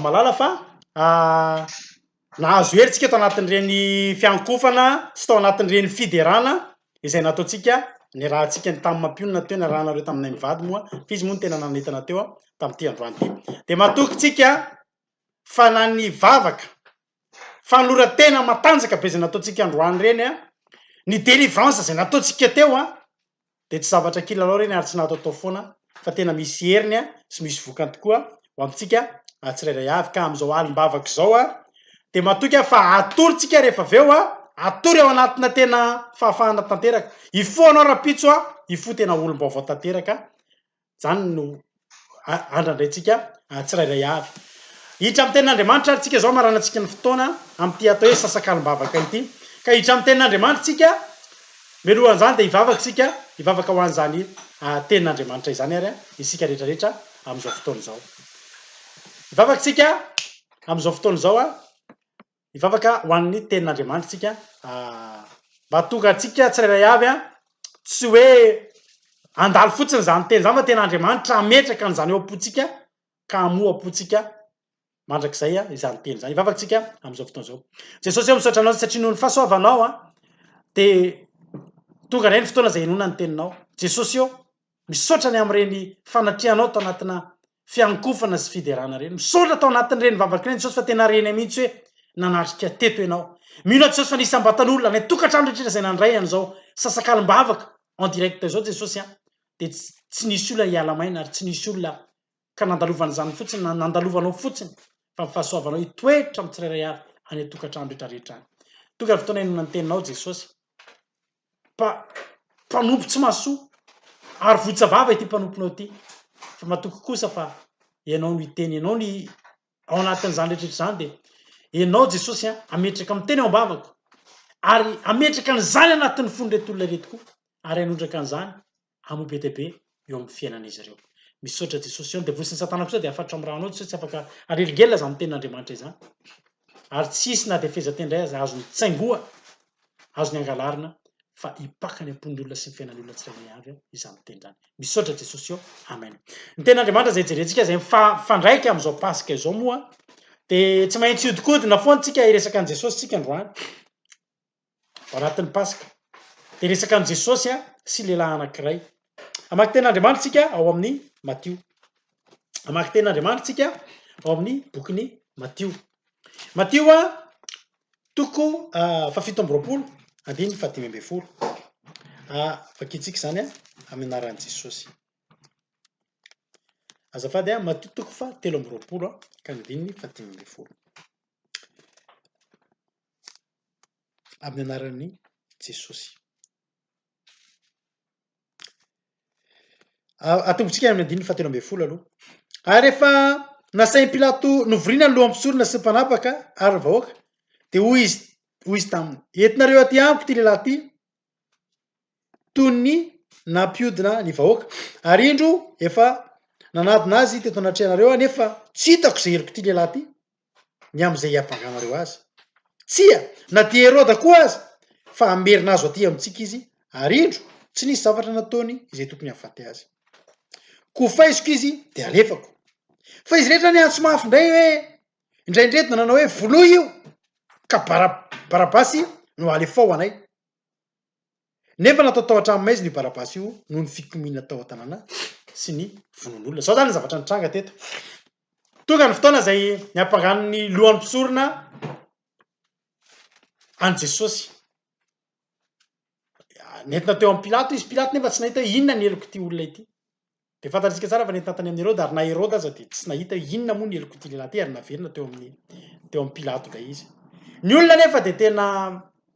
Malala fa nahazo hery tsika tao anatin'ireny fiankohofana sy tao anatin'ireny fiderana izay nataontsika niarahantsika ny tamin'ny mampionona teo niarahanareo taminay mivady moa fa izy moa no tena nanentana teo tamin'ity androany ity dia matoky tsika fa na ny vavaka fanoloran-tena matanjaka be izay nataontsika androany ireny an, ny délivrance izay nataontsika teo an, dia tsy zavatra kilalao ireny ary tsy nataotao foana fa tena misy heriny an, sy misy vokany tokoa ho amintsika tsirairay avy. Ka amin'izao alim-bavaka izao an, dia matoky aho fa atorontsika rehefa avy eo an, atory ao anatina tena fahafahana tanteraka. Hifoha ianao rahampitso an, hifoha tena olom-baovao tanteraka. Izany no andrandraintsika tsirairay avy. Hiditra amin'ny tenin'Andriamanitra ary tsika izao maranantsika ny fotoana amin'ity atao hoe sasakalim-bavaka ity. Ka hiditra amin'ny tenin'Andriamanitra tsika, mialoha an'izany dia hivavaka tsika, hivavaka ho an'izany tenin'Andriamanitra izany ary isika rehetra rehetra amin'izao fotoana izao. Hivavaka tsika amin'izao fotoana izao, Hivavaka ho an'ny tenin'Andriamanitra isika mba hahatonga antsika tsirairay avy an, tsy hoe handalo fotsiny izany teny izany fa tena Andriamanitra hametraka an'izany eo am-pontsika ka hamoha am-pontsika mandrakizay izany teny izany. Hivavaka isika amin'izao fotoana izao. Jesosy eo misaotra anao satria noho ny fahasoavanao dia tonga indray ny fotoana izay hinoana ny teninao. Jesosy eo Misaotra ny amin'ireny fanatrehanao tao anatina fiankohofana sy fiderana ireny. Misaotra tao anatin'ireny vavaka ireny Jesosy fa tena renay mihitsy hoe nanatrika teto ianao. Mino aho Jesosy fa nisy ambatan'olona any an-tokantrano rehetra izay nandray an'izao sasakalim-bavaka en direct izao Jesosy a! dia tsy nisy olona hiala maina ary tsy nisy olona ka nandalovana izany fotsiny na nandalovanao fotsiny fa ny fahasoavanao hitoetra amin'ny tsirairay avy any an-tokantrano rehetra rehetra any. Tonga ny fotoana hihainoana ny teninao Jesosy. mpa mpanompo tsy mahasoa ary votsavava ity mpanomponao ity fa matoky kosa fa ianao no hiteny ianao ny ao anatin'izany rehetrehtra izany dia ianao jesosy an ametraka miteny ao ambavako ary ametraka an'izany anatin'ny fon'ireto olona ireto koa ary hanondraka an'izany Hamoa be dia be eo amin'ny fiainan'izy ireo. Misaotra Jesosy Sion dia voisin'i satana kosa dia afatrao amin'ny ranao Jesosy tsy afaka anelingelina izany tenin'Andriamanitra izany ary tsy hisy na dia fehezanteny indray aza azony tsaingoha azony angalarina fa hipaka any am-pon'ny olona sy ny fiainan'ny olona tsirairay avy izany teny izany. Misaotra Jesosy Sion. Amen. Ny tenin'Andriamanitra izay jerentsika izay mifandraika amin'izao Paska izao moa dia tsy maintsy hihodinkodina foana tsika hiresaka an'i Jesosy tsika androany. ao anatin'ny Paska. Dia resaka an'i Jesosy sy lehilahy anankiray. Hamaky tenin'Andriamanitra isika ao amin'ny Matio. Hamaky tenin'Andriamanitra isika ao amin'ny bokin'i Matio. Matio toko fahafito amby roapolo andininy fahadimy ambin'ny folo. Vakintsika izany amin'ny anaran'i Jesosy. Azafady a, Matio toko fa telo amby roapolo ka ny andininy fahadimy ambin'ny folo. amin'ny anaran'i Jesosy. Atombontsika amin'ny andininy fahatelo ambin'ny folo aloha. Ary rehefa nasain'i Pilato novoriana ny loha mpisorona sy mpanapaka ary ny vahoaka, dia hoy izy hoy izy taminy, entinareo aty amiko ity lehilahy ity, toy ny nampiodina ny vahoaka ary indro efa nanadina azy teto anatrehanareo aho nefa tsy hitako izay heloka ity lehilahy ity ny amin'izay hiavanganareo azy. Tsia, na dia Heroda koa aza, fa hamerina azo atỳ amintsika izy, ary indro, tsy nisy zavatra nataony izay tokony hahafaty azy. Koa faiziko izy dia alefako. Fa izy rehetra niantso mafy indray hoe, Indraindray dia nanao hoe, Voloy io, ka Bara, Barabasy no alefao ho anay. Nefa natao tao an-trano-maizina io Barabasy io noho ny fikomiana tao an-tanàna sy ny vonoan'olona. Izao izany ny zavatra nitranga teto. Tonga ny fotoana izay niampangan'ny lohan'ny mpisorona an'i Jesosy. nentina teo amin'i Pilato izy, Pilato nefa tsy nahita hoe inona ny helok'ity olona ity. Dia fantatsika tsara fa nentina tany amin'i Heroda ary na Heroda aza dia tsy nahita hoe inona moa ny helok'ity lehilahy ity ary naverina teo amin'ny teo amin'i Pilato indray izy. Ny olona nefa dia tena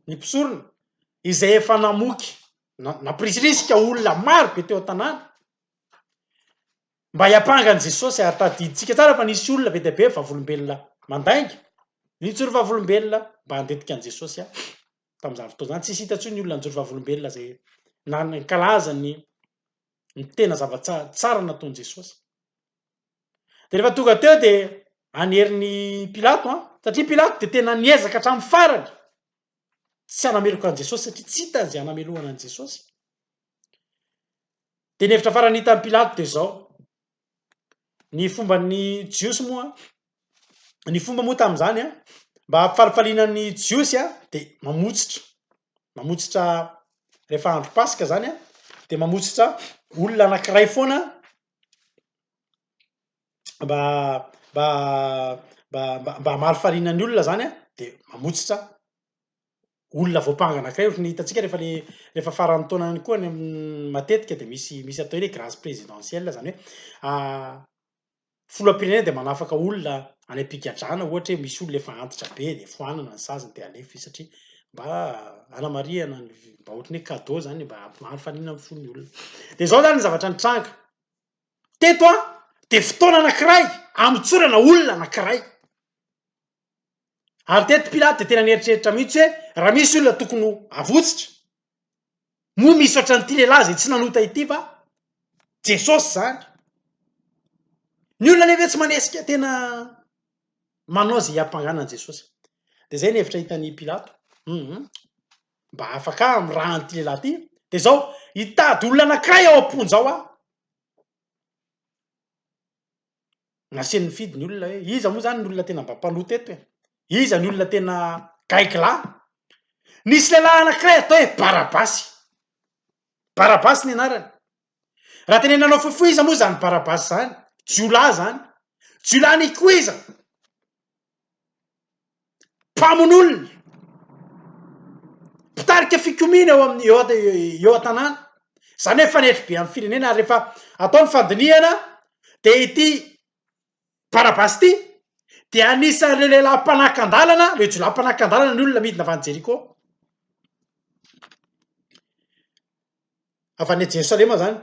ny mpisorona izay efa namoky nampirisiritsika olona maro be teo an-tanàna mba hiampanga an'i Jesosy ary tadidintsika tsara fa nisy olona be dia be vavolombelona mandainga nijoro vavolombelona mba handetika an'i Jesosy ahy. tamin'izany fotoana izany. Tsisy hita intsony ny olona nijoro vavolombelona izay nankalaza ny ny tena zava-tsara nataon'i Jesosy. Dia rehefa tonga teo dia anerin'i Pilato an, satria Pilato dia tena niezaka hatramin'ny farany tsy hanameloka an'i Jesosy satria tsy hita izay hanamelohana an'i Jesosy. Dia ny hevitra farany hitan'i Pilato dia izao, Ny fomban'ny Jiosy moa, ny fomba moa tamin'izany an, mba hampifalifaliana ny Jiosy an, dia mamotsitra, mamotsitra rehefa andro paska zany an, dia mamotsitra olona anankiray foana mba mba mba mba mba hamalifaliana ny olona zany an, dia mamotsitra. olona voampangana kay ohatry ny hitantsika rehefa le rehefa faran'ny taona ihany koa any matetika dia misy misy atao hoe grâce présidentielle zany hoe ah, filoham-pirenena dia manafaka olona any am-pigadrana ohatra hoe misy olona efa antitra be dia foanana ny saziny dia alefa izy satria mba anamarihana ny mba ohatry ny hoe cadeau zany mba hampifanina amin'ny fon'ny olona dia izao zany ny zavatra nitranga teto a dia fotoana anankiray amotsorana olona anankiray Ary teto Pilato dia tena nieritreritra mihitsy hoe raha misy olona tokony ho avotsitra, moa misy ohatran'ity lehilahy izay tsy nanota ity va? Jesosy izany. Ny olona anefa tsy manesika tena manao izay hiampangana an'i Jesosy. Dia izay ny hevitra hitan'i Pilato. Hum, mba afaka amin'ny raha an'ity lehilahy ity. Dia izao, hitady olona anankiray ao am-ponja ao aho. Nasehony nifidy ny olona hoe iza moa izany ny olona tena mba mpanoa teto e? Iza ny olona tena gaigilahy? Nisy lehilahy anankiray atao hoe Barabasy. Barabasy ny anarany. Raha tenenanao fohifohy iza moa izany Barabasy izany? Jiolahy izany. Jiolahy nikoiza. mpamonolona, mpitarika fikomiana eo amin'ny eo an-tanàna, izany hoe fanetry be amin'ny firenena ary rehefa atao ny fandinihana dia ity Barabasy ity dia anisan'ireo lehilahy mpanakan-dalana, ireo jiolahy mpanakan-dalana ny olona midina avy any Jeriko, avy any Jerosalema izany.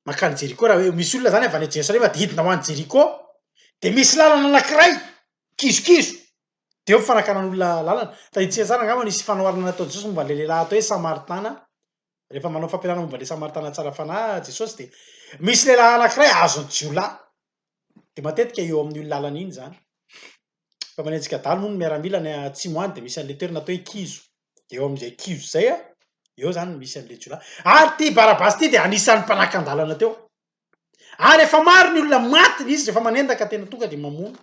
mankany Jeriko raha hoe misy olona zany avy any Jerosalema de hidina ho any Jeriko de misy lalana anakiray kizokizo de eo fanakanan'olona lalana, tadidintsika tsara angamba nisy fanoharana nataon'i Jesosy momba an'le lehilahy atao hoe Samaritana, rehefa manao fampianarana momba an'le Samaritana tsara fanahy Jesosy de misy lehilahy anakiray azon'ny jiolahy Dia matetika eo amin'io lalana iny izany. Fa manenjika adala moa ny miaramila any atsimo any dia misy an'ilay toerana atao hoe kizo. Dia eo amin'izay kizo izay, eo izany no misy an'ilay jiolahy. Ary ity Barabasy ity dia anisan'ny mpanakan-dalana teo. Ary efa maro ny olona maty izy rehefa manendaka tena tonga dia mamono.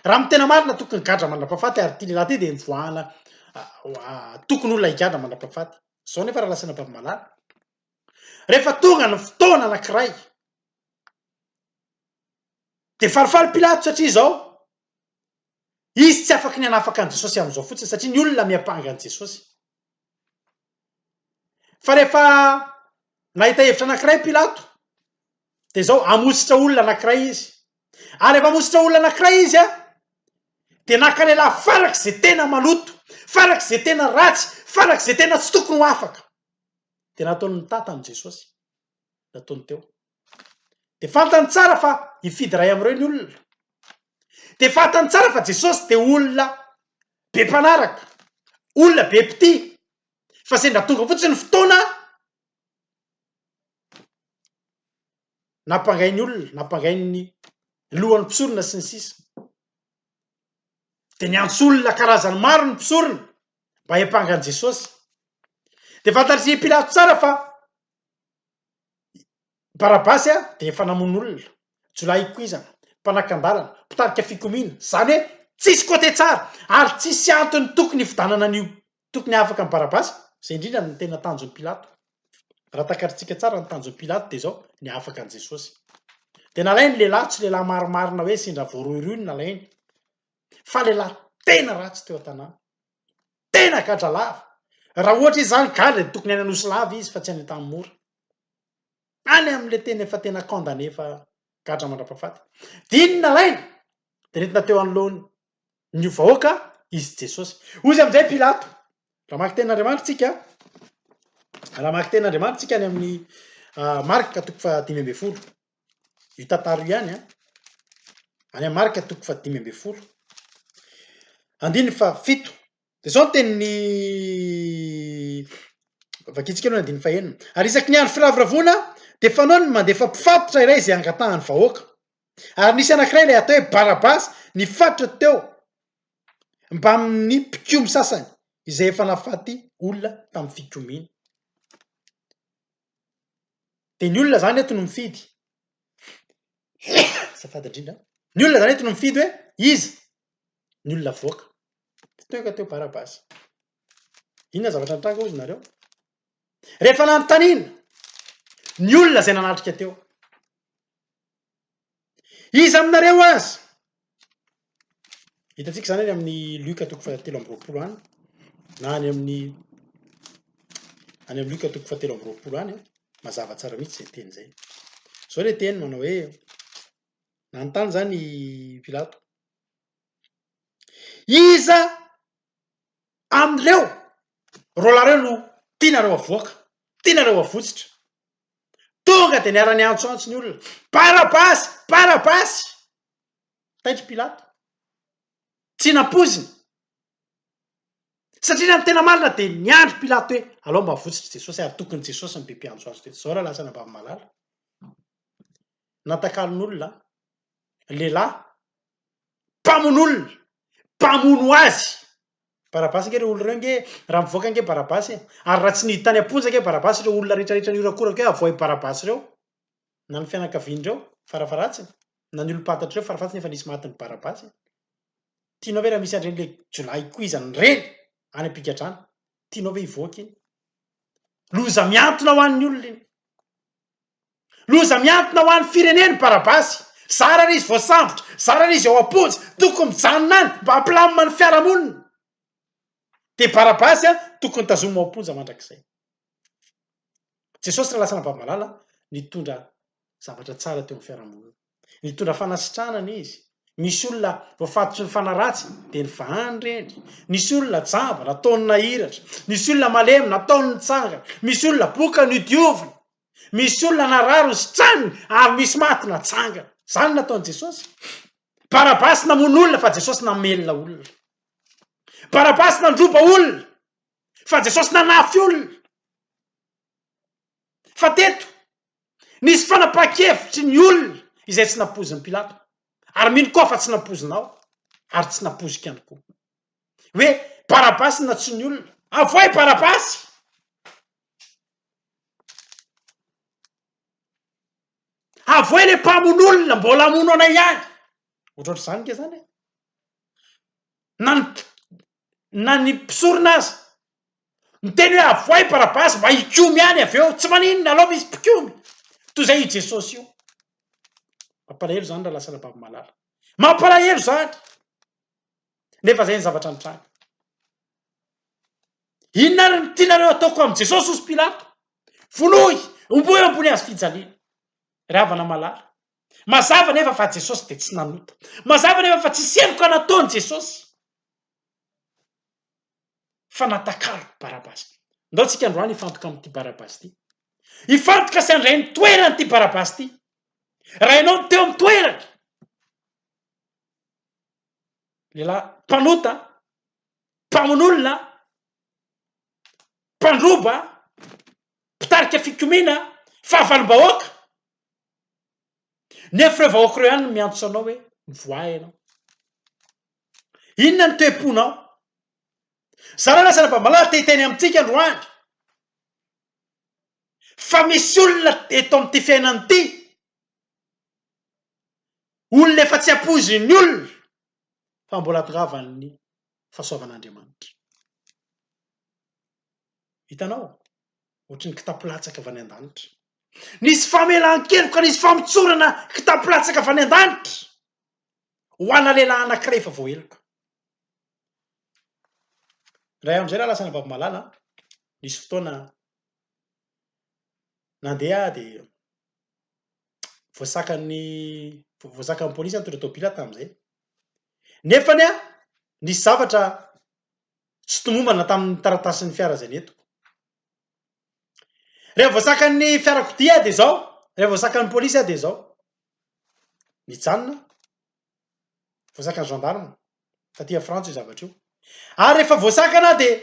Raha amin'ny tena marina tokony gadra mandrapahafaty ary ity lehilahy ity dia nivoahana tokony olona higadra mandrapahafaty. Izao nefa raha lasanà Babimalala. Rehefa tonga ny fotoana anankiray, Dia falifaly Pilato satria izao, izy tsy afaky ny hanafaka an'i Jesosy amin'izao fotsiny satria ny olona miampanga an'i Jesosy. Fa rehefa nahita hevitra anankiray Pilato, dia izao, hamositra olona anankiray izy. Ary rehefa hamositra olona anankiray izy, dia naka lehilahy farak'izay tena maloto, farak'izay tena ratsy, farak'izay tena tsy tokony ho afaka. Dia nataony nitata an'i Jesosy. nataony teo. Dia fantany tsara fa hifidy iray amin'ireo ny olona. Dia fantany tsara fa Jesosy dia olona be mpanaraka, olona be mpitia, fa sendra tonga fotsiny ny fotoana, nampangainy olona, nampangainy ny lohan'ny mpisorona sy ny sisa. Dia niantso olona karazany maro ny mpisorona mba hiampanga an'i Jesosy. Dia fantatr'i Pilato tsara fa Barabasy a de efa namono olona, jiolahy ikoizana, mpanakan-dalana, mpitarika fikomiana, zany hoe tsisy côté tsara ary tsisy antony tokony hifidanana an'io tokony hahafaka an'i Barabasy, zay indrindra no tena tanjon'i Pilato, raha takarintsika tsara ny tanjon'i Pilato de zao ny hahafaka an'i Jesosy, de nalainy lehilahy tsy lehilahy marimarina hoe sendra voarohirohy no nalainy fa lehilahy tena ratsy teo an-tanàna. Tena gadra lava! Raha ohatra izy zany gadra dia tokony any Anosy lava izy fa tsy any Antanimora. Any amin'ilay tena efa tena condamné efa gadra mandrapahafaty. Dia iny nalainy dia nentina teo anoloan ny vahoaka izy Jesosy. Hoy izy amin'izay Pilato, raha maki tenin' Andriamanitra tsika, raha maki tenin' Andriamanitra tsika any amin'ny Marka toko fahadimy ambin'ny folo, Itantaro ihany an! Any amin'ny marika toko fahadimy ambin'ny folo andininy fahafito dia izao ny tenin'ny vakintsika aloha ny andininy fahenina, ary isaky ny andro firavoravoana dia fanao ny mandefa mpifatitra iray izay hangatahan'ny vahoaka, ary nisy anankiray ilay atao hoe Barabasy nifatotra teo mbamin'ny mpikomy sasany izay efa nahafaty olona tamin'ny fikomiana. De ny olona zany eto no mifidy azafady indrindra a, ny olona zany eto no mifidy hoe iza ny olona avoaka, tsy teo ka teo Barabasy, inona zavatra nitranga hozy nareo? Rehefa nanontanina ny olona zay nanatrika teo. Iza aminareo aza? Hitantsika izany any amin'ny Luka toko fahatelo amby roapolo any, na any amin'ny any amin'ny Luka toko fahatelo amby roapolo any, mazava tsara mihitsy izay teny izay. Izao ilay teny manao hoe, nanontany izany i Pilato, iza amin'ireo roalahy ireo no tianareo havoaka, tianareo havotsitra? Tonga dia niara-niantsoantso ny olona, Barabasy! Barabasy! Taitr'i Pilato. Tsy nampoiziny. Satria raha ny tena marina dia niandry Pilato hoe, Alao mba avotsotr'i Jesosy, ary tokony Jesosy no be mpiantso azy teto izao raha lasa any Ambavimalaly. Natakalon'olona, lehilahy, mpamono olona, mpamono azy, Barabasy ange reo olona reo ange raha mivoaka ange Barabasy e! ary raha tsy niditra any am-ponja ange Barabasy reo olona retraretra nihorakoraka eo avohay Barabasy reo na ny fianakaviany reo farafaharatsiny na ny olom-pantatry reo farafahatsiny efa nisy matin'i Barabasy e! tianao ve raha misy an'ireny le jiolahy koizany ireny any am-pigadrana tianao ve hivoaka iny? loza mihantona ho an'ny olona iny Loza mihantona ho an'ny firenena i Barabasy. Zara ry izy voasambotra, zara ry izy ao am-ponja, tokony mijanona any mba hampilamina ny fiarahamonina. Dia Barabasy an, tokony tazomina ao am-ponja mandrakizay. Jesosy Ralasa Ravalomanana nitondra zavatra tsara teo amin'ny fiarahamonina. Nitondra fanasitrahana anie izy. Nisy olona voafatotry ny fanaratsy, dia nivahany ireny. Nisy olona jamba, nataony nahiratra. Nisy olona malemy, nataony nitsangana. Misy olona boka, nodioviny. Misy olona narary, nositraniny, ary misy maty, natsangana. Izany no nataon'i Jesosy. Barabasy namono olona, fa Jesosy namelona olona. Barabasy nandroba olona, fa Jesosy nanafy olona. Fa teto, Nisy fanapahan-kevitry ny olona izay tsy nampoizin'i Pilato, ary mino koa fa tsy nampoizinao ary tsy nampoiziko ihany koa. Hoe Barabasy na tsy ny olona, avoahy Barabasy! Avoahy ilay mpamono olona, mbola hamono anay ihany! Ohatrohatr'izany ange izany e! Na ny na ny mpisorona aza miteny hoe avoay Barabasy mba hikomy ihany avy eo, tsy maninona alao misy mpikomy toy izay io Jesosy io. Mampalahelo izany raha lasa Rabavy Malala. Mampalahelo izany. Nefa izay ny zavatra nitranga. Inona ary no tianareo ataoko amin'i Jesosy hozy Pilato? Vonoy, omboy eo ambony hazo fijaliana. Ry havana Malala. Mazava anefa fa Jesosy dia tsy nanota. Mazava anefa fa tsisy heloka nataony Jesosy. fa natakariko Barabasy. Ndao tsika androany hifantoka amin'ity Barabasy ity. Hifantoka sy handray ny toerany ity Barabasy ity. Raha ianao no teo amin'ny toerany, lehilahy mpanota, mpamono olona, mpandroba, mpitarika fikomiana, fahavalom-bahoaka, Nefa ireo vahoaka ireo ihany no miantso anao hoe mivoaha ianao. Inona no toe-ponao? Zara lasa Rabamalaho te hiteny amintsika androany fa misy olona eto amin'ity fiainana ity, olona efa tsy ampoizin'ny olona fa mbola tongavan'ny fahasoavan'Andriamanitra. Hitanao? Ohatry ny kitapo latsaka avy any an-danitra. Nisy famelan-keloka, nisy famotsorana kitapo latsaka avy any an-danitra ho ana lehilahy anankiray efa voaheloka. Indray andro izay lahy lasa anabavy-malala, nisy fotoana nandeha aho dia voasakan'ny voasakan'ny polisy nitondra tômôbila aho tamin'izay. Nefany an, nisy zavatra Tsy tomombana tamin'ny taratasin'ny fiara izay nentiko. Rehefa voasakan'ny fiarakodia aho dia izao, rehefa voasakan'ny polisy aho dia izao. Nijanona aho. Voasakan'ny gendarme. Taty Frantsa io zavatra io. Ary rehefa voasakana aho dia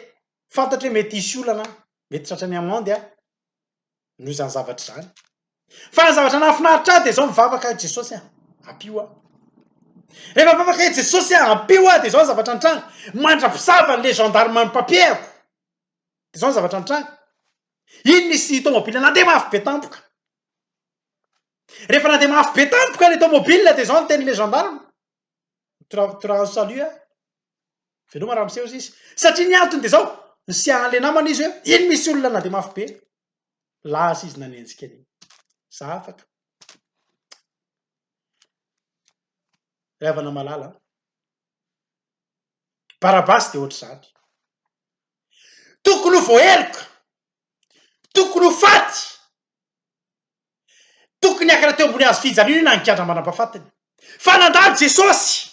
fantatro hoe mety hisy olana aho. Mety tratra ny amende aho. noho izany zavatra izany. Fa ny zavatra nahafinaritra ahy dia izao mivavaka aho Jesosy a, ampio aho. Rehefa mivavaka ahy Jesosy a, ampio aho dia izao ny zavatra nitranga. Mandra-pisava ny le gendarme mi-papier-ako. Dia izao ny zavatra nitranga. Iny nisy tomobile nandeha mafy be tampoka. Rehefa nandeha mafy be tampoka le tomobile dia izao ny tenin'ilay gendarme. Mitoragnotoragno salut a! Veloma raha miseho sisa. Satria ny antony dia izao, nisehany ilay namana izy hoe iny misy olona na dia mafy be. Lasa izy nanenjika an'iny. Za afaka. Ry havana malala an. Barabasy dia ohatr'izany. Tokony ho voaheloka. Tokony ho faty. Tokony hiakatra teo ambony hazo fijaliana io na nikandra mandrampafatiny. Fa nandalo Jesosy!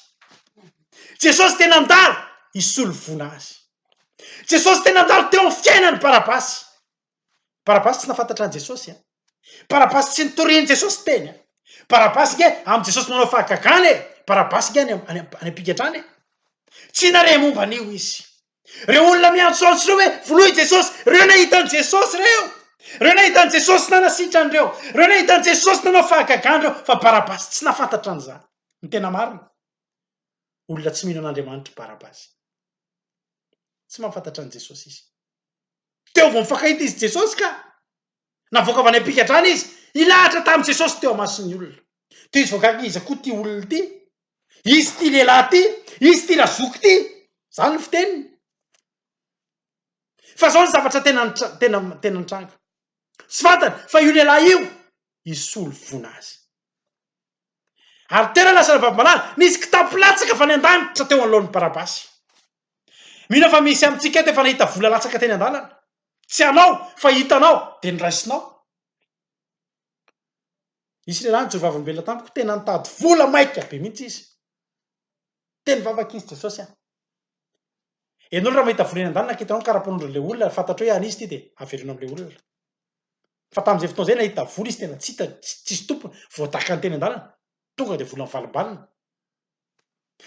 Jesosy dia nandalo hisolo vola azy. Jesosy dia nandalo teo amin'ny fiainan'i Barabasy. Barabasy tsy nafantatra an'i Jesosy an. Barabasy tsy nitorian'i Jesosy teny an. Barabasy nge amin'i Jesosy manao fahagagana e! Barabasy nge any am-pigadrana e! Tsy nare momba an'io izy. Ireo olona miantso antso ireo hoe, Vonoy i Jesosy! Ireo nahita an'i Jesosy ireo! Ireo nahita an'i Jesosy nanasitrany ireo! Ireo nahita an'i Jesosy nanao fahagagana ireo! Fa Barabasy tsy nahafantatra an'izany. Ny tena marina, olona tsy mino an'Andriamanitra i Barabasy. Tsy mahafantatra an'i Jesosy izy. Teo vao mifankahita izy sy Jesosy ka! Navoaka avy any am-pigadrana izy, hilahatra tamin'i Jesosy teo imason'ny olona. Toy izao gaga iza koa ity olona ity? Izy ity lehilahy ity? Izy ity razoky ity? Izany ny fiteniny. Fa izao ny zavatra tena tena tena nitranga. Tsy fantany fa io lehilahy io hisolo voina azy. Ary tena lasa navavim-banala, nisy kitapo latsaka avy any an-danitra teo anoloan'i Barabasy. Mino aho fa misy amintsika eto efa nahita vola latsaka teny an-dalana. Tsy anao, fa hitanao, dia noraisinao. Nisy lehilahy nijoro vavolombelona tamiko, tena nitady vola maika be mihitsy izy. Teny vavaka izy, Jesosy an! Ianao raha mahita vola eny an-dalana ka hitanao ny karapanondron'ilay olona, fantatrao hoe an'izy ity dia avereno amin'ilay olona. Fa tamin'izay fotoana izay nahita vola izy tena tsy hita, tsisy tompony, voadakany teny an-dalana, tonga dia vola mivalimbalina.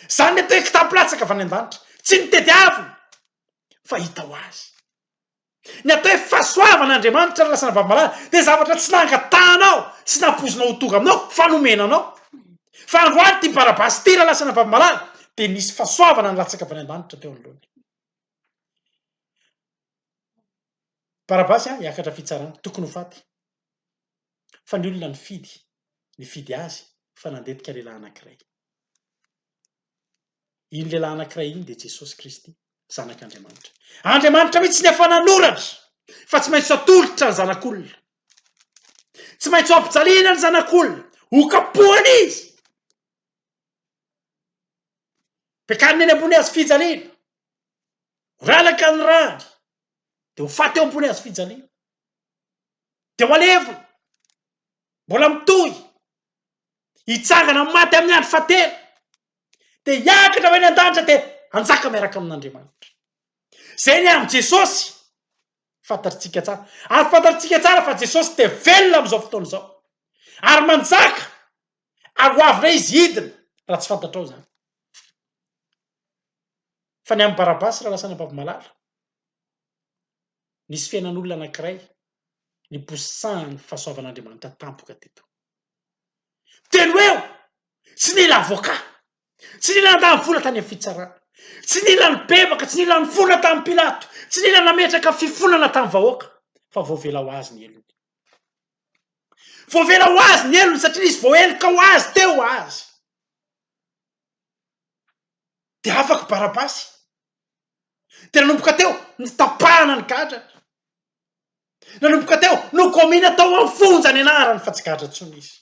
Izany ilay toe kitapo latsaka avy any an-danitra, tsy nitediavina fa hita ho azy. Ny atao hoe fahasoavan'Andriamanitra ary lasana vavimalala dia zavatra tsy nangatahanao sy nampoizinao ho tonga aminao fa nomena anao. Fa androany ity Barabasy ity lasana vavimalala dia nisy fahasoavana nilatsaka avy any an-danitra teo anoloany. Barabasy an hiakatra fitsarana, tokony ho faty. Fa ny olona nifidy, nifidy azy fa nandetika lehilahy anankiray. Iny lehilahy anankiray iny dia Jesosy Kristy, Zanak'Andriamanitra. Andriamanitra mihitsy ny efa nanoratra fa tsy maintsy atolotra ny zanak'olona. Tsy maintsy ampijaliana ny zanak'olona, hokapohana izy. Pekarina eny ambony hazo fijaliana. Ralaka ny rany de ho faty eo ambony hazofijaliana de ho alevina mbola mitohy hitsangana amin'ny maty amin'ny andro fahatelo de hiakatra ho eny an-danitra de hanjaka miaraka amin'Andriamanitra. Zay ny amin'i Jesosy fantatritsika tsara ary fantatritsika tsara fa Jesosy dia velona amin'izao fotoana izao ary manjaka ary ho avy indray Izy hidina raha tsy fantatrao izany. Fa ny an'i Barabasy Ralasanabavmalala, nisy fiainan'olona anankiray niposahan'ny fahasoavan'Andriamanitra tampoka teto. Telo eo! Tsy nila avocat, tsy nila nandany vola tany amin'ny fitsarana, tsy nila nibebaka, tsy nila nifoana tamin'i Pilato, tsy nila nametraka fifonana tamin'ny vahoaka fa voavela ho azy ny helony. Voavela ho azy ny helony satria nisy voaheloka ho azy teo azy. dia afaka Barabasy. Dia nanomboka teo ny tapahana ny gadra. Nanomboka teo no kaomina tao amin'ny fonja ny anarany fa tsy gadra intsony izy.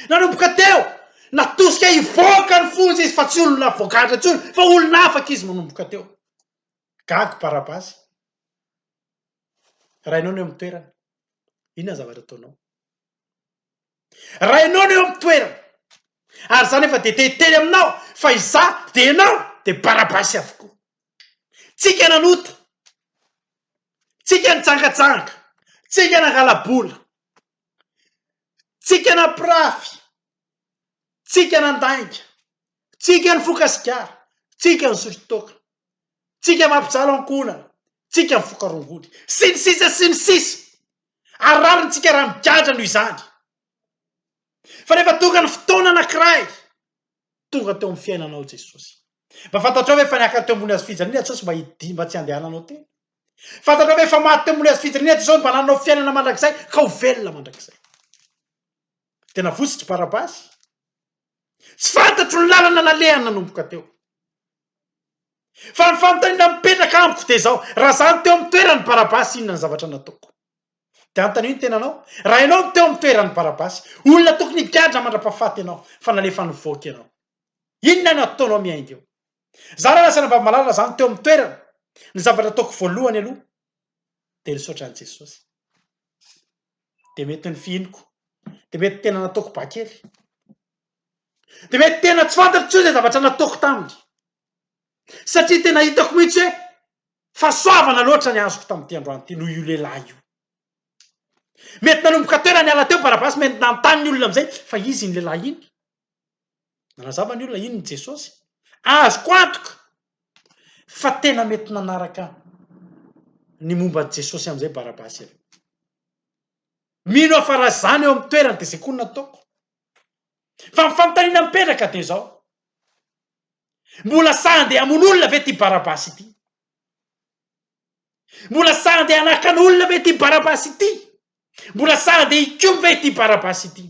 Nanomboka teo natosika hivoaka ny fonja izy fa tsy olona voagadra intsony fa olona afaka izy manomboka teo. Gago Barabasy. Raha ianao no eo amin'ny toerany, inona ny zavatra ataonao? Raha ianao no eo amin'ny toerana ary izany efa dia tehiteny aminao fa izaho dia ianao dia barabasy avokoa. Tsika nanota, tsika nijangajanga, tsika nangala-bola, tsika nampirafy, tsika nandainga, tsika nifoka sigara, tsika nisotro toaka, tsika mampijaly ankohonana, tsika mifoka rongony, sy ny sisa sy ny sisa. ary rarintsika raha migadra noho izany. Fa rehefa tonga ny fotoana anankiray, tonga teo amin'ny fiainanao Jesosy. Mba fantatrao ve fa niakatra teo ambony hazofijaliana Jesosy mba hidia mba tsy handehananao tena? Fantatrao ve fa maty teo ambony hazofijaliana Jesosy mba nananao fiainana mandrakizay ka ho velona mandrakizay? Dia navotsotr'i Barabasy. Tsy fantatro ny lalana nalehany nanomboka teo. Fa ny fanontaniana mipetraka amiko dia izao, raha izaho no teo amin'ny toeran'i Barabasy, inona ny zavatra nataoko? Dia anontanio ny tenanao, raha ianao no teo amin'ny toeran'i Barabasy, olona tokony higadra mandra-pahafaty ianao, fa nalefa nivoaka ianao. Inona no ataonao miainga eo? Izaho raha lasa an'Ambamalala, raha izaho no teo amin'ny toerany, ny zavatra ataoko voalohany aloha dia ny misaotra an'i Jesosy. de mety nifihiniko, de mety tena nataoko ba kely, de mety tena tsy fantatro intsony zay zavatra nataoko taminy, satria tena hitako mihitsy hoe fahasoavana loatra ny azoko tamin'ity androany ity noho io lehilahy io, mety nanomboka teo raha niala teo Barabasy mety nanontany ny olona amizay fa izy iny lehilahy iny? Nanazava ny olona inona i Jesosy? Azoko antoka fa tena mety nanaraka ny momba an'i Jesosy amin'izay Barabasy ianao. Mino aho fa raha izaho no eo amin'ny toerany dia izay koa no nataoko. Fa ny fanontaniana mipetraka dia izao, mbola sahy handeha hamono olona ve ity Barabasy ity? Mbola sahy handeha hanakana olona ve ity Barabasy ity? Mbola sahy handeha hikomy ve ity Barabasy ity?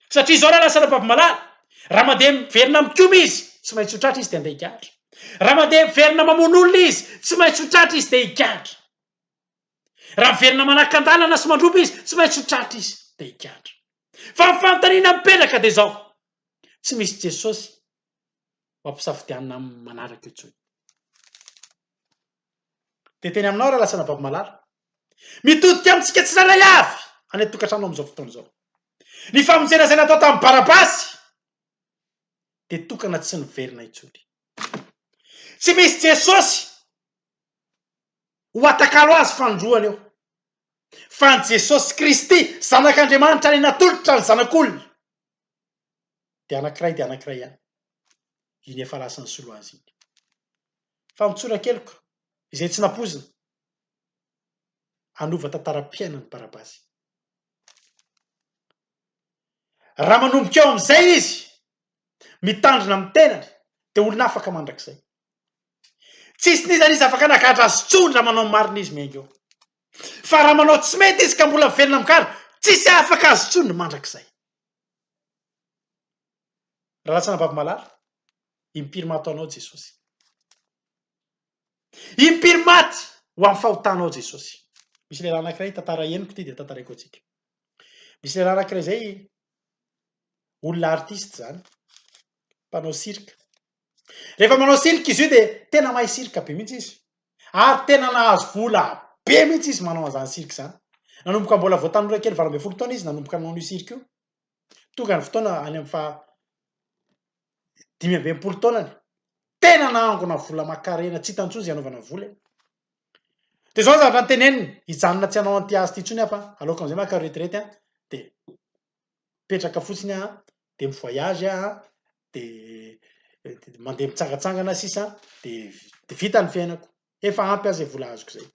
Satria izao raha lasa Rabavimalala, raha mandeha miverina mikoma izy, tsy maintsy ho tratra izy dia handeha higadra. Raha mandeha miverina mamono olona izy, tsy maintsy ho tratra izy dia higadra. Raha miverina manakan-dalana sy mandroba izy, tsy maintsy ho tratra izy dia higadra. Fa ny fanontaniana mipetraka dia izao, tsy misy Jesosy ho ampisafidianina amin'ny manaraka io intsony. Dia teny aminao Ralatsana Babimalala. Mitodika amintsika tsirairay avy any an-tokantrano amin'izao fotoana izao. Ny famonjena izay natao tamin'i Barabasy dia tokana tsy niverina intsony. Tsy misy Jesosy ho atakalo azy fanindroany eo. Fa ny Jesosy Kristy, Zanak'Andriamanitra any natolotra ny Zanak'olona, dia anankiray dia anankiray ihany. Iny efa lasa nisolo azy iny. Famotsoran-keloka izay tsy nampoizina hanova tantaram-piainan'i Barabasy. Raha manomboka eo amin'izay izy mitandrina amin'ny tenany dia olona afaka mandrakizay. Tsisy nizany izy afaka nagadra azy intsony raha manao ny marina izy miainga eo. Fa raha manao tsy mety izy ka mbola mivelona migadra, tsisy afaka azy intsony mandrakizay. Ralatsana Bavimalala, impiry maty ho Anao Jesosy. Impiry maty ho amin'ny fahotanao Jesosy. Misy lehilahy anankiray tantara henoko ity dia tantaraiko antsika. Misy lehilahy anankiray izay olona artiste izany, mpanao cirque. Rehefa manao cirque izy io dia tena mahay cirque be mihitsy izy. Ary tena nahazo vola be mihitsy izy manao an'izany cirque izany. Nanomboka mbola vao tanora kely valo ambin'ny folo taona izy nanomboka nanao io cirque io. Tonga ny fotoana any amin'ny faha dimy amby enimpolo taonany, tena nahangona vola aman-karena tsy hitan'ny intsony izay anaovana vola e! Dia izao ny zavatra noteneniny, hijanona tsy hanao an'ity asa ity intsony aho fa aleoko amin'izay maka retraite an, dia mipetraka fotsiny aho an, dia mi-voyage aho an, dia mandeha mitsangantsangana sisa an, dia vita ny fiainako. Efa ampy aza e vola azoko zay.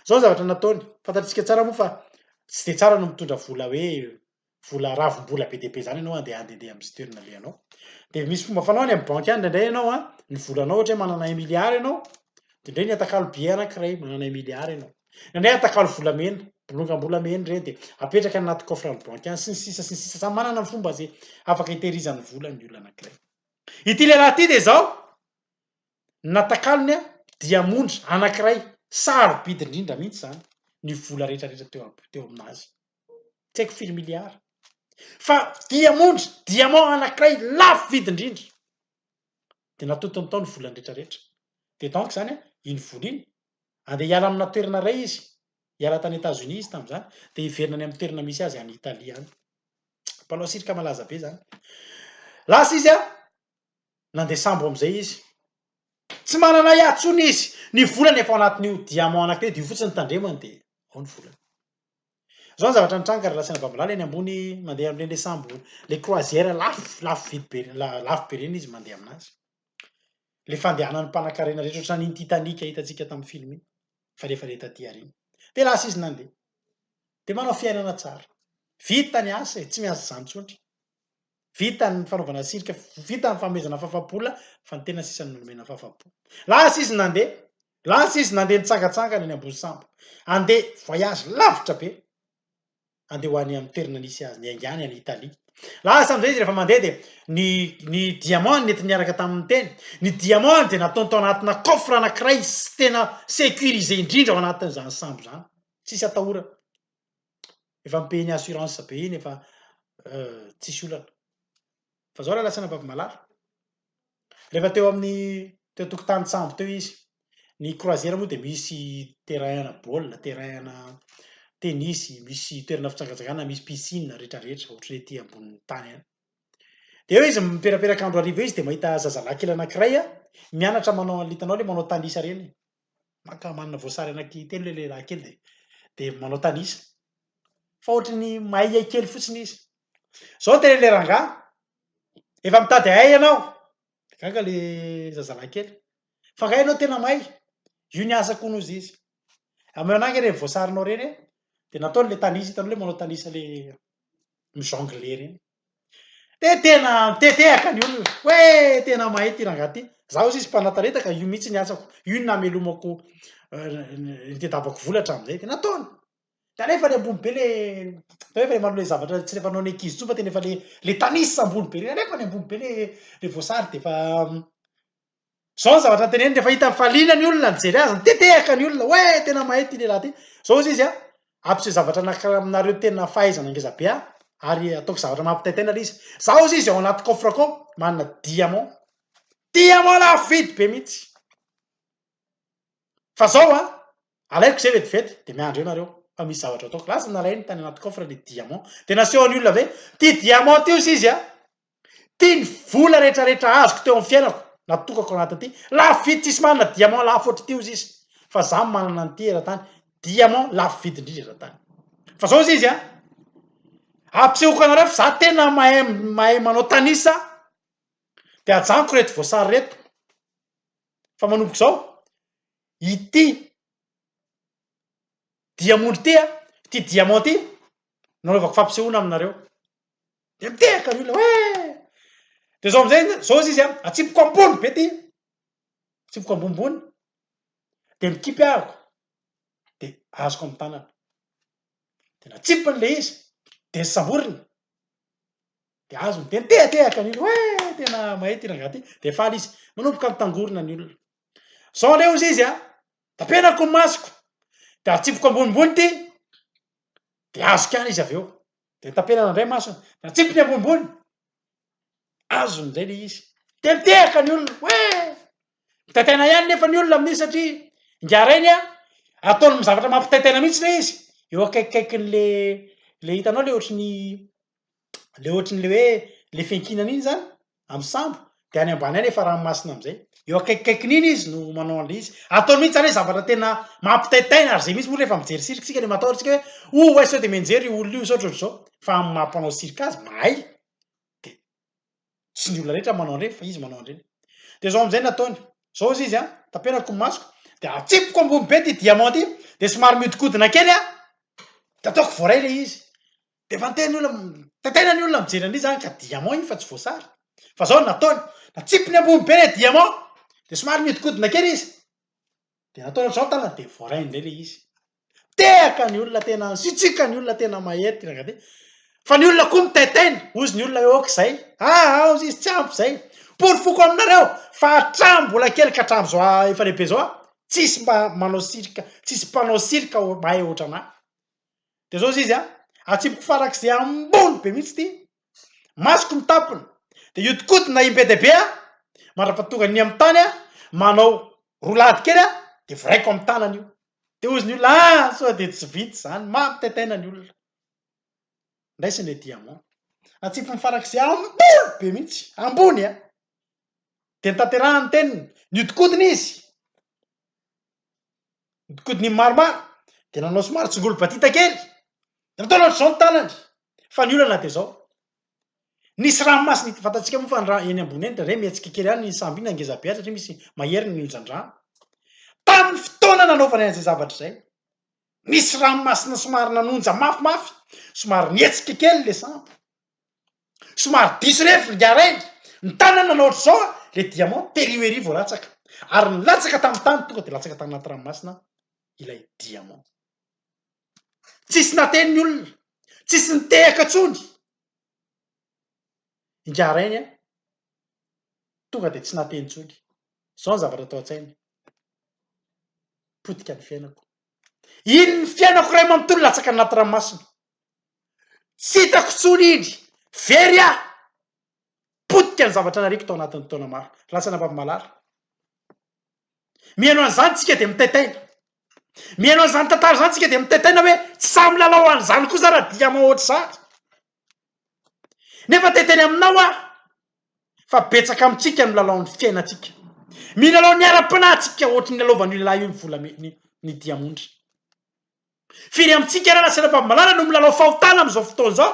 Zao zavatra nataony, fantatritsika tsara moa fa tsy de tsara no mitondra vola hoe vola ravim-bola be dia be zany ianao andeha handehandeha amin'ny sitery nalehanao. De misy fomba fanaony amin'ny banky any indraindray ianao an, ny volanao ohatra hoe manana un milliard ianao, de ndray ny atakalo billet anankiray, manana un milliard ianao. Indraindray atakalo volamena, bolongam-bolamena ireny de apetraka anaty coffre any banky any sy ny sisa sy ny sisa, samy manana ny fomba ze afaka itehirizany vola ny olona anankiray. Ity lehilahy ity de zao, Ny natakalony diamondra anankiray sarobidy indrindra mihitsy izany ny vola rehetrarehetra teo teo aminazy. Tsy haiko firy miliara. Fa diamondra, diamant anankiray lafo vidy indrindra. Dia natotony tao ny volany rehetrarehetra. Dia donc izany iny vola iny, andeha hiala amina toerana iray izy, hiala tany Etats-Unis izy tamin'izany, dia hiverina any amin'ny toerana misy azy any Italie any. Mpanao cirque malaza be izany. Lasa izy an! Nandeha sambo amin'izay izy. Tsy manana ahy intsony izy. Ny volany efa ao anatin'io diamant anankiray io fotsiny ny tandremany dia ao ny volany. Izao ny zavatra nitranga, ry Rasenabambilala eny ambony mandeha amin'ireny ilay sambo, ilay croisière lafo, lafo vidy be, lafo be ireny izy mandeha aminazy. Ilay fandehanan'ny mpanankarena rehetra ohatran'iny Titanic hitantsika tamin'ny film iny, fa rehefa ilay taty aoriana. Dia lasa izy nandeha. Dia manao fiainana tsara. Vita ny asa e, tsy miasa izany intsony. Vita ny fanaovana cirque, vita ny fanomezana fafa-bola fa ny tena sisa no nomena fafa-bola. Lasa izy nandeha, lasa izy nandeha nitsangantsangana eny Ambohisambo. Handeha voyage lavitra be, handeha ho any amin'ny toerana nisy azy, niainga any any Italie. Lasa amin'izay izy rehefa mandeha dia ny ny diamant nentiny niaraka taminy teny, ny diamant dia nataony tao anatina coffre anankiray tena sécurisé indrindra ao anatin'izany sambo izany, tsisy atahorana. efa mi-paye ny assurance be iny efa tsisy olana fa zao lalatsina Ambavimalala rehefa teo amin'ny teo an-tokotanin-tsambo teo izy ny croisière moa dia misy terrain ana baolina terrain ana tennis misy toerana fitsangatsanganana misy piscine rehetrarehetra ohatry ny ety ambonin'ny tany any dia eo izy miperaperaka andro hariva eo izy dia mahita zazalahy kely anankiray mianatra manao an'ilay hitanao ilay manao tanisa ireny maka manana voasary anaky telo le lehilahy kely de de manao tanisa fa ohatry ny mahay hiay kely fotsiny izy zao de le rangahy efa mitady ahay ianao de gaga le zazalahy kely fa angaha ianao tena mahay io ny asako hono hozy izy ameo anahy nge reny voasarinao reny e de nataony le tanisa hitanao le manao tanisa le mi-jongle reny. Dia tena mitedehaka ny olona hoe tena mahay ity rangahy ity. Izaho hozy izy mpanatanentaka, io mihitsy ny asako, io no namelomako nitadiavako vola hatramin'izay, dia nataony. Dia aleo efa ilay ambony be ilay, tena hoe efa manao ilay zavatra tsy ilay fanao ny ankizy intsony fa tena efa ilay ilay tanisa ambony be ireny, aleoko ny ambony be ilay ilay voasary dia efa Zao ny zavatra teneniny rehefa hitany fa liana ny olona nijery azy, nitetehaka ny olona hoe tena mahay ity lehilahy ity. Zao hozy izy a, Ampiseho zavatra anankiray aminareo tena fahaizana ngeza be aho ary ataoko zavatra mampitaitaina le izy. Zao hozy izy ao anaty coffre-ko ao, manana diamant. Diamant lafo vidy be mihitsy. Fa zao a, alaiko izay vetivety dia miandry eo nareo fa misy zavatra ataoko. Lasa nalainy tany anaty coffre le diamant dia nasehony olona ve, ty diamant ty hozy izy a, Ty ny vola rehetra rehetra azoko teo am fiainako natokako anatin ty lafo vidy tsisy manana diamant lafo ohatry ty ozy izy fa za manana an ty eratany diamant lafo vidy indrindra eratany fa zao ozy izy an ampisehoko anareo fa za tena mahay mahay manao tanisa de ajanoko reto voasary reto fa manomboka zao ity diamondry ty an ty diamant ty nanaovako fampisehoana aminareo. de mitehaka ny olona hoe de zao amizay zao izy izy a atsipiko ambony be ty atsipiko ambonimbony de mikipy ahiko de azoko amy tanana de natsipiny le izy de samboriny de azony de mitehatehaka ny olona hoe tena mahay ty rangaha ty de faly izy manomboka mitangorona ny olona zao leo izy izy a tapenako ny masoko de atsipiko ambonimbony ty de azoko ihany izy avy eo Dia tapenana indray masony, natsipiny ambonimbony. Azony indray ilay izy. Dia nitehaka ny olona, hoe mitaitaina ihany nefa ny olona amin'iny satria ingahy Reny a, ataony amin'ny zavatra mampitaitaina mihitsy ilay izy, eo akaikikaikin'ilay ilay hitanao ilay ohatry ny ilay ohatry ny ilay hoe ilay fiankinana iny izany. amin'ny sambo, dia any ambany any efa ranomasina amin'izay. Eo akaikikaikin'iny izy no manao an'ilay izy. Ataony mihitsy izany hoe zavatra tena mampitaitaina, ary izay mihitsy moa rehefa mijery cirque isika dia matahotra isika hoe oh way sao dia mianjera io olona io sao ohatr'izao. Fa amin'ny maha mpanao cirque azy, mahay, dia tsy ny olona rehetra manao an'ireny fa izy manao an'ireny. Dia izao amin'izay no ataony, izao hozy izy an, tapenako ny masoko, dia atsipiko ambony be ity diamant ity, dia somary mihodinkodina kely aho, dia ataoko voaray ilay izy. Efa niteny ny olona, tantena ny olona mijery an'iny zany ka diamant iny fa tsy voasary. Fa zao ny nataony, natsipiny ambony be le diamant, de somary mihodinkodina kely izy, de nataony ohatr'izao ny tanany de voarainy indray le izy. Tehaka ny olona tena, sitsiaka ny olona tena mahery ty ranga ty. Fa ny olona koa mitaitaina, hozy ny olona hoe ok zay, ah aozy izy tsy ampy zay. Porofoko aminareo fa hatramin'ny mbola kely ka hatramin'izao aho efa lehibe zao an, tsisy mba manao cirque, tsisy mpanao cirque mahay ohatran'ahy. De zao izy a, atsipiko farak'izay ambony be mihitsy ity, masoko mitampina, de iodikodina im-be dia be aho, mandrapatonga ny amin'ny tany aho, manao roulade kely aho, de viraiko amin'ny tanana io. De hozy ny olona, ah! sao dia tsy vita izany, maro tetaina ny olona. Ndraisiny le diamant, natsipiny farak'izay ambony be mihitsy, ambony a! De nitanterahany ny teniny, niodikodina izy. Nodikodiny ny maromaro dia nanao somary tsongolo-badita kely, dia nataony ohatr'izao ny tanany, fa ny olana dia izao, nisy ranomasina ity vatantsika moa fa ny rano eny ambony eny dia re mihetsika kely ihany ny sambo iny na ngeza be aza satria misy mahery ny onjan-drano. Tamin'ny fotoana nanaovany an'izay zavatra izay, nisy ranomasina somary nanonja mafimafy, somary nihetsika kely ilay sambo. Somary diso revy ringahy rainy, ny tanany nanao ohatr'izao an, ilay diamant tery ho ery vao latsaka, ary nilatsaka tamin'ny tany tonga dia latsaka tany anaty ranomasina ilay diamant. Tsisy nateny ny olona, tsisy nitehaka intsony ingahy rainy an, tonga dia tsy nateny intsony, izao ny zavatra tao an-tsainy, potika ny fiainako, iny ny fiainako iray manontolo latsaka any anaty ranomasina, Tsy hitako intsony iny. Very aho. Potika ny zavatra nariako tao anatin'ny taona maro. Lasa nabavy-malala. Mihaino an'izany tsika dia mitaitaina. Mihaino an'izany tantara izany tsika dia mitaitaina hoe tsy sahy milalao an'izany kosa raha diamo ohatr'izany. Nefa te-hiteny aminao aho fa betsaka amintsika no milalao ny fiainantsika. Milalao ny ara-panahy tsika ohatry ny lalaovan'io lehilahy io ny volamena, ny diamondra. Firy amintsika ary nasina fahamarinana no milalao fahotana amin'izao fotoana izao?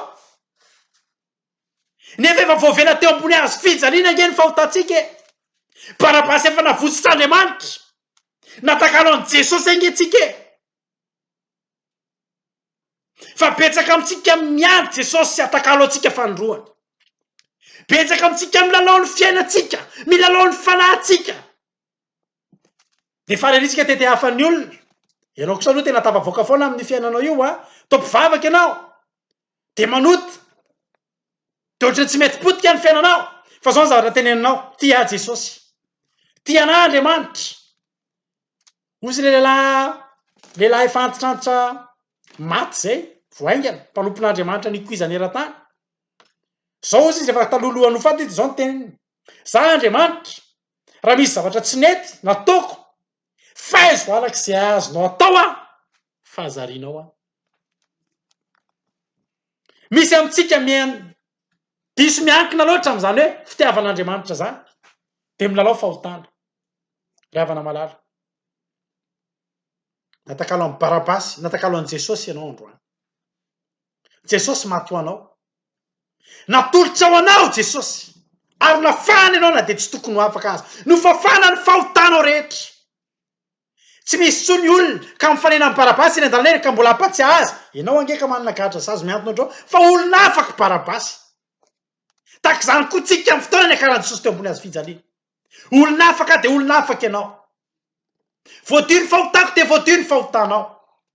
Nefa efa voavela teo ambony hazo fijaliana ange ny fahotantsika e! Barabasy efa navotsotr'Andriamanitra, natakalo an'i Jesosy ange tsika e! Fa betsaka amintsika miandry Jesosy sy atakalo antsika fanindroany. Betsaka amintsika milalao ny fiainantsika, milalao ny fanahintsika. Dia fariritsika tety hafan'ny olona. Ianao kosa aloha tena tafavoaka foana amin'io fiainanao io an! Toa mpivavaka ianao, dia manota, dia ohatran'ny tsy mety potika ny fiainanao. Fa izao ny zavatra teneninao, tia ahy Jesosy, tia anà Andriamanitra. Hozy ilay lehilahy lehilahy efa antitrantitra maty izay, vao haingana, mpanompon'Andriamanitra nikoizana eran-tany. Izao hozy izy efa taloha alohan'ny ho faty, dia izao ny teniny. Za Andriamanitra, raha misy zavatra tsy nety nataoko, faizo araka izay azonao atao aho, fa zarianao aho. Misy amintsika mian diso miankina loatra amin'izany hoe fitiavan'Andriamanitra izany, dia milalao fahotana. Ry havana malala, natakalo an'i Barabasy, natakalo an'i Jesosy ianao androany. Jesosy maty ho anao. Natolotra ho anao Jesosy ary nafahana ianao na dia tsy tokony ho afaka aza. Nofafana ny fahotanao rehetra. Tsy misy intsony ny olona ka mifanena amin'i Barabasy eny an-dalana eny ka mbola hampatsiahy azy, ianao ange ka manana gadra sazy mihantona ohatrao fa olona hafa akory Barabasy. Tahaka izany koa tsika amin'ny fotoana niakaran'i Jesosy teo ambony hazofijaliana. Olona afaka dia olona afaka ianao. Voadio ny fahotako dia voadio ny fahotanao.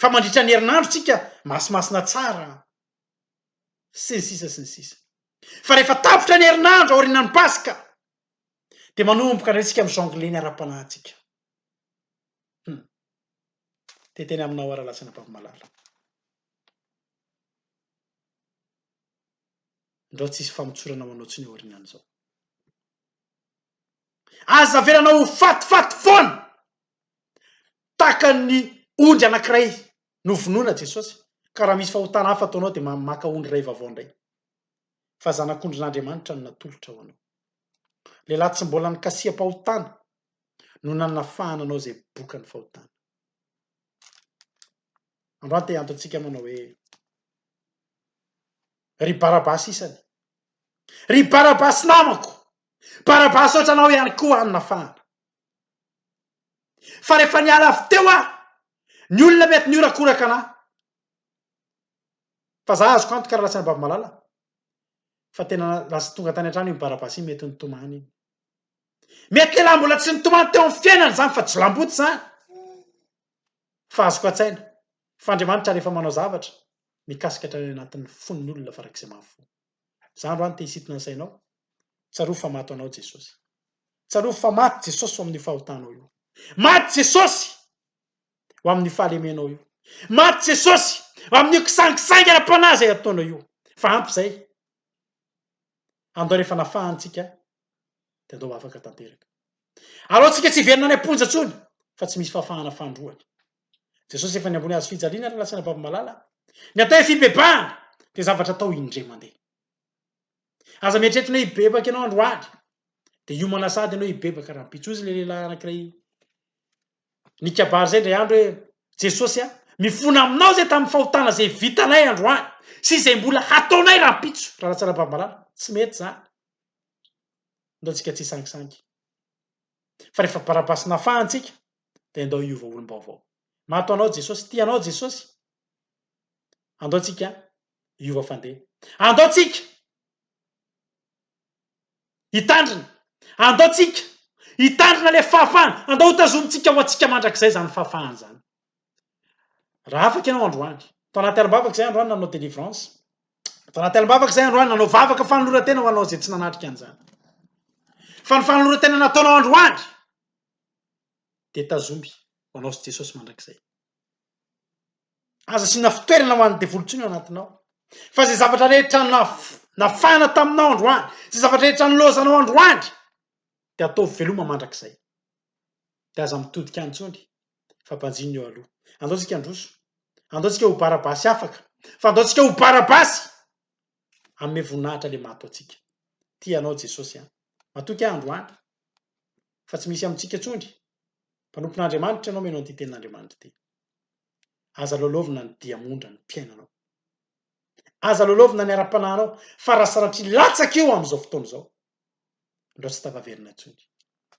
Fa mandritra ny herinandrontsika masimasina tsara an! sy ny sisa sy ny sisa Fa rehefa tapitra ny herinandro aorianan'ny paska dia manomboka indray tsika mi jongler ny ara-panahintsika Hum Dia teny aminao ara lahy Tsenapavmalala Ndrao tsy hisy famotsorana ho anao intsony aorianan'izao. Aza avelana ho fatifaty foana tahaka ny ondry anankiray novonoina Jesosy, ka raha misy fahotana hafa ataonao dia maka ondry iray vaovao indray, fa zanak'ondrin'Andriamanitra no natolotra ho anao. Lehilahy tsy mbola nikasiha-pahotana no nanafahana anao izay bokan'ny fahotana. Androany te hiantontsika manao hoe, Ry Barabasy isany, ry Barabasy namako, Barabasaotra anao ihany koa any mafana. Fa rehefa niala avy teo aho, ny olona mety nihorakoraka anah. Fa za azoko antoka raha lasa an'i Babimalala fa tena lasa tonga tany an-trano iny Barabasa iny mety nitomany iny. Mety lehilahy mbola tsy nitomany teo amin'ny fiainany izany fa jilamboto izany. Fa azoko an-tsaina fa Andriamanitra rehefa manao zavatra mikasika hatrany anatin'ny fon'ny olona farak'izay mahafoy. Izany raha ny te-hisintona ny sainao, tsarovy fa maty ho anao Jesosy. Tsarovy fa maty Jesosy ho amin'ny fahotanao io. Maty Jesosy ho amin'ny fahalemenao io. Maty Jesosy ho amin'io kisangisangy ara-panahy izay ataonao io. Fa ampy izay. Andao rehefa nafahany tsika, dia andao ho afaka tanteraka. Aleontsika tsy hiverina any am-ponja intsony, fa tsy misy fahafahana fandroana. Jesosy efa niambony hazo fijaliana ary nilatsana babo malala. Ny atao hoe fibebahana dia zavatra atao indray mandeha. Aza mieritreritra ny hoe hibebaka ianao androany, dia hiomana sahady ianao hibebaka rahampitso. Hoy izy ilay lehilahy anankiray nikabary izay indray andro hoe, Jesosy a, mifona aminao izay tamin'ny fahotana izay vitanay androany sy izay mbola hataonay rahampitso raha latsana babo malala. Tsy mety izany. Nataontsika tsy hisangisangy. Fa rehefa barabasy nafahana isika, dia andao hiova olom-baovao. Mato anao Jesosy, tia anao Jesosy. Andao tsika hiova fandeha. Andao tsika hitandrina. Andao tsika hitandrina ilay fahafahana. Andao hotazomintsika ho antsika mandrakizay izany fahafahana izany. Raha afaka ianao androany, tao anaty alim-bavaka izay androany nanao délivrance, tao anaty alim-bavaka izay androany nanao vavaka fanoloran-tena ho anao izay tsy nanatrika an'izany. Fa ny fanoloran-tena nataonao androany, dia tazomy ho anao sy Jesosy mandrakizay. Aza asiana fitoerana ho an'ny devoly intsony ao anatinao. Fa izay zavatra rehetra nafana taminao androany, izay zavatra rehetra nilaozanao androany, dia ataovy veloma mandrakizay. Dia aza mitodika intsony, fa banjino eo aloha. Andao tsika handroso, andao tsika ho barabasy afaka, fa andao tsika ho barabasy amin'ny voninahitra le mato antsika. Tia anao Jesosy an. Matoky ahy androany. fa tsy misy amintsika intsony, mpanompon'Andriamanitra ianao mino an'ity tenin'Andriamanitra ity. Aza lalaovina ny diamondra ny fiainanao. Aza lalaovina ny ara-panahinao, fa raha sanatria latsaka io amin'izao fotoana izao, andao tsy tafaverina intsony.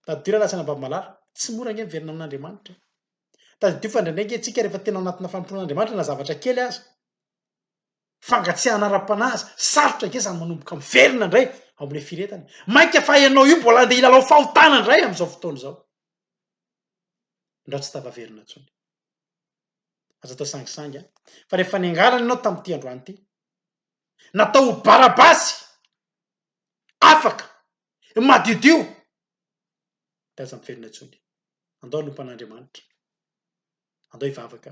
Tadidio rahalahy sy anabavy malala, tsy mora ange miverina amin'Andriamanitra e! Tadidio fa indraindray ange isika rehefa tena ao anatina fanompoan'Andriamanitra na zavatra kely aza, fangatsiahana ara-panahy aza, sarotra ange zany manomboka miverina indray ao amin'ilay firetana e! Mainka fa ianao io mbola andeha hilalao fahotana indray amin'izao fotoana izao. Ndrao tsy tafaverina intsony. Aza atao sangisangy an! Fa rehefa niangarana ianao tamin'ity androany ity, natao ho barabasy, afaka, madiodio, dia aza miverina intsony. Andao hanompo an'Andriamanitra. Andao hivavaka.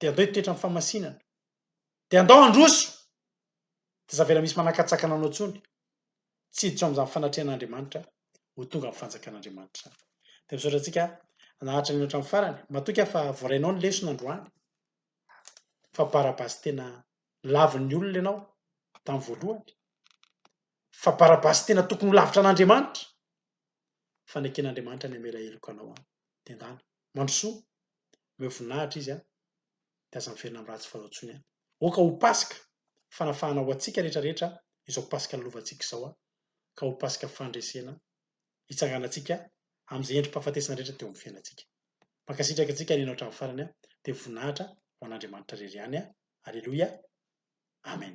Dia andao hitoetra amin'ny famasinana. Dia andao handroso. Dia aza avela misy manakatsakana anao intsony. Tsy hiditra ao amin'izany fanatrehan'Andriamanitra ho tonga amin'ny fanjakan'Andriamanitra izany. Dia misaotra antsika naharitra nihaino hatramin'ny farany. Matoky aho fa voarainao ny lesona androany. Fa Barabasy tena lavin'ny olona ianao tamin'ny voalohany. Fa Barabasy tena tokony ho lavitra an'Andriamanitra. faneken'Andriamanitra ny hamela heloka anao an! dia endahana mandrosoa, omeo voninahitra Izy an! dia aza miverina amin'ny ratsy fanao intsony an! Aoka ho Paska fanafahana ho antsika rehetra rehetra izao Paska nilovantsika izao an! ka ho Paska fandresena hitsanganantsika amin'izay endri-pahafatesana rehetra teo amin'ny fiainantsika. Mankasitraka antsika nihaino hatramin'ny farany an! dia voninahitra ho an'Andriamanitra irery ihany an! Aleloia! Amen!